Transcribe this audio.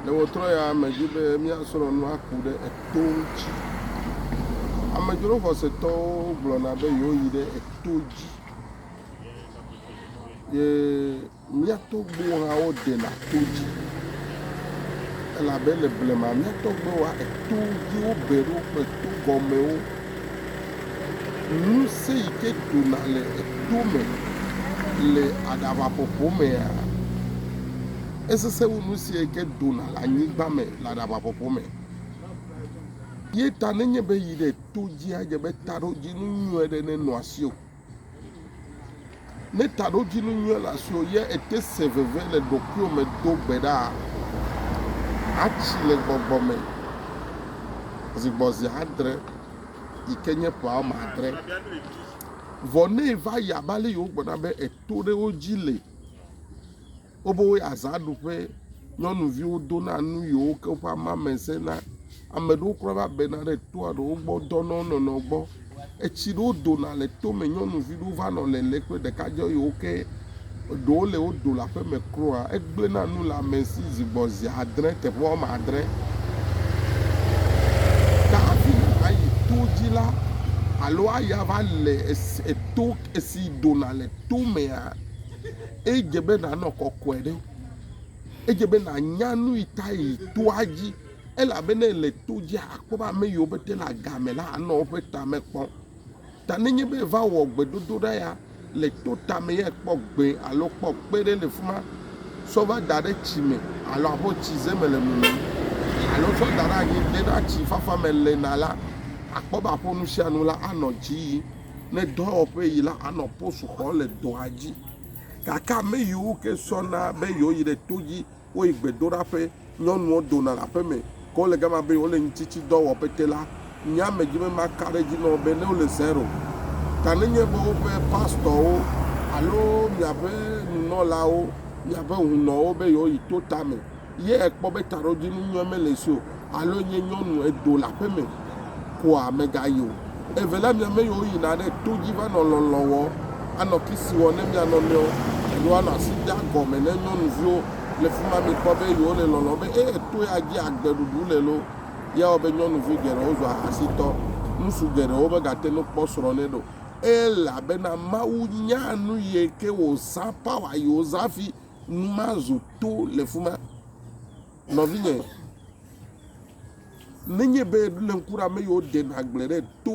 Le ɣetrɔ ya me dzi be míasrɔ̃ nu aku ɖe eto ŋuti. Amedzro xɔsetɔwo gblɔna be yewoyi ɖe eto dzi. Ye mía tɔgbuiwo hã woɖena to dzi. Elabe le blema mía tɔgbuiwoa, eto dzi wobe ɖo kple to gɔmewo. Ŋusẽ yi ke dona le eto me le aɖaʋaƒoƒo mea, esesẽ wu nu sia yi ke dona le anyigba me le aɖabaƒoƒo me. Ye ta nenye be yi ɖe to dzi adze be taɖodzinu nyui aɖe nenɔ asiwò. Ne taɖodzinu nyui le asiwò ye ete se veve le ɖokuiwò me do gbe ɖa. Atsi le gbɔgbɔ me zi gbɔ zi adre yi ke nye ƒe wɔme adre. Vɔ ne va yi abe ale yi wogblɔna be eto ɖe wo dzi le Woƒe azãɖuƒe, nyɔnuviwo dona nu yi woke woƒe amamese na. Ame ɖewo kura va bena ɖe toa ɖewo gbɔ dɔna wo nɔnɔewo gbɔ. Etsi ɖewo dona le tome nyɔnuvi ɖewo va nɔ lele kple ɖekadzɛ yi woke. Eɖewo le wo do le aƒeme kura. Egblẽna nu le ame si zi gbɔ zi adre teƒe wɔme adre. Ke hafi nàyi to dzi la alo ayi aʋa le esi eto esi dona le tomea, Edze be nànɔ kɔkɔe ɖe. Edze be nànya nu yi ta yi toa dzi elabe ne èle to dzia, àkpɔ be ame yiwo pete le agame la anɔ woƒe tame kpɔm. Ta nenye be èva wɔ gbedodoɖa ya le to tame ya kpɔ gbee alo kpɔ kpe ɖe le fi ma, sɔ va da ɖe tsi me alo abe tsize me le mumum alo sɔ da ɖe anyi de na tsi fafa me le na la, àkpɔ be aƒo nu sia nu la anɔ dzi yim. ne dɔwɔƒe yi la anɔ post xɔm le dɔa dzi. Gake ame yiwo ke sɔna be yewoyi ɖe to dzi, woyi gbedoɖaƒe, nyɔnuwo dona le aƒeme, ke wole gama be yewole ŋutitsidɔwɔƒe ke la, nye ame dzi be maka ɖe edzi na wo be ne wole zero. Ta nenye be woƒe pastɔwo alo miaƒe nunɔlawo, miaƒe hunɔwo be yewoyi to tame, Ye ekpɔ be taɖodzinu nyɔe mele esi o alo nye nyɔnu edo le aƒe me koa megayi o. Eve la mia me yiwo yina ɖe to dzi va nɔ lɔlɔ̃ wɔ, anɔ kisi wɔ ne mia nɔnɔewo alo anɔ asi dea gɔme ne nyɔnuviwo le fima mikpɔ be yewo le lɔlɔ̃ be e to ya dzi agbe ɖuɖu le lo. Ye wɔ be nyɔnuvi geɖewo zu ahasitɔ. Ŋutsu geɖewo megate nu kpɔ srɔ̃ nɛ ɖe o. Elabena Mawu nyaa nu yike wozã power yi wozã fi nu mazo to le fi ma. Nɔvinye, nenye be nèɖo ŋku ɖe ame yiwo ɖenɛ agble ɖe to